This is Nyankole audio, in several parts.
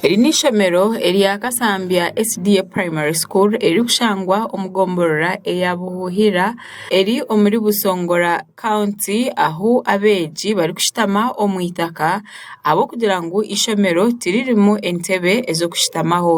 Eri n'eishomero erya Kasambya SDA Primary School erikushangwa omu gombolola eya Buhuhira eri omuri Busongora County ahu abeegi barikushutama omu itaka ahabw'okugira ngu eishomero tiririmu entebe ez'okushutamaho.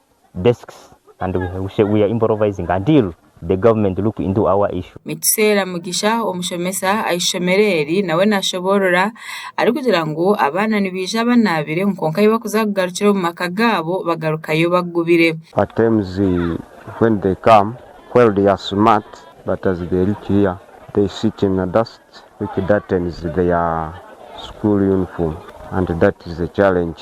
desks and we are improvising until the government look into our issue. Nikiseera Mugisha omushomesa ah'eishomero eri nawe nashoboorora arikugira ngu abaana nibaija banaabire ngu kwonka ahi bakuza kugarukira omu maka gaabo bagarukayo bagubire. At times when they come while they are smart but as they reach here they sit in the dust which dartens their school uniform and that is a challenge.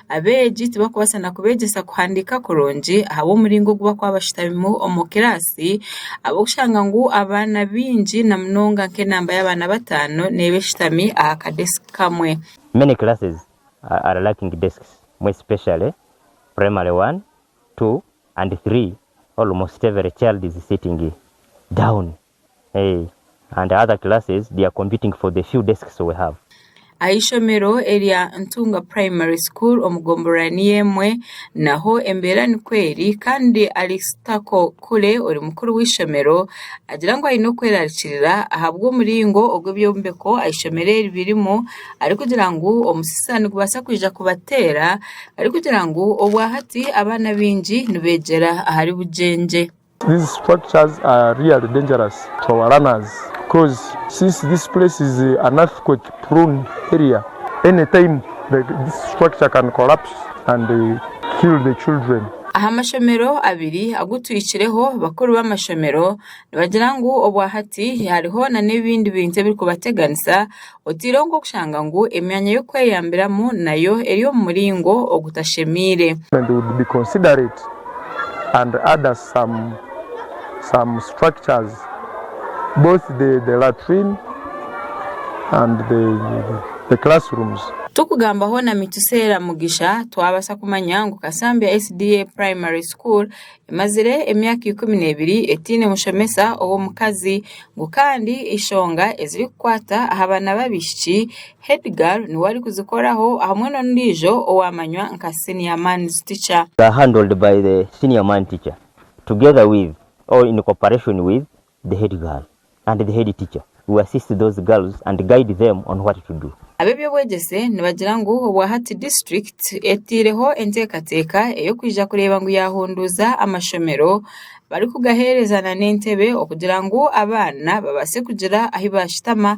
Abeegi tibarikubaasa na kubeegyesa kuhandiika kurungi ahabw'omuringo ogu barikuba bashutamimu omu kiraasi ahabw'okushanga ngu abaana baingi na munonga nk'enamba y'abaana bataano neeba eshutami aha kadesiki kamwe. Many classes are lacking desks more especially primary one, two and three almost every child is sitting down and other classes they are competing for the few desks we have. Ah'eishomero erya Ntunga Primary School omu gombolola niyo emwe naho embeera nikwo eri kandi Alice Tako Kule ori mukuru w'eishomero agira ngu aine okwerarikirira ahabw'omuringo ogu ebyombeko ah'eishomero eri birimu arikugira ngu omusisa nigubaasa kwija kubateera arikugira ngu obwahati abaana abaingi nibeegyera ahari bugyengye. These structures are really dangerous to our runners coz since this place is an earthquake prone area any time this structure can collapse and kill the children. Aha mashomero abiri agu twikireho, bakuru b'amashomero nibagira ngu obwa hati hariho na n'ebindi bintu ebirikubateganisa Oteireho nk'okushanga ngu emyanya y'okweyambiramu nayo eri omu muringo ogutashemeire. Tukugamba hoona Mituseera Mugisha twabaasa kumanya ngu Kasambya SDA Primary School Emazire emyaka ikumi n'ebiri etaine mushomesa ow'omukazi ngu kandi enshonga ezirikukwata aha baana b'abaishiki, Heidegger niwe arikuzikoraho hamwe n'ondiijo owaamanywa nka Senior Man's Teacher. Handled by the Senior Man's Teacher, together with or in cooperation with the head girl and the head teacher who assist those girls and guide them on what to do. Ab'eby'obwegyese nibagira ngu obwa hati district eteireho enteekateeka ey'okwija kureeba ngu yaahunduuza amashomero barikugaheereza na n'entebe okugira ngu abaana babaase kugira ahu baashutama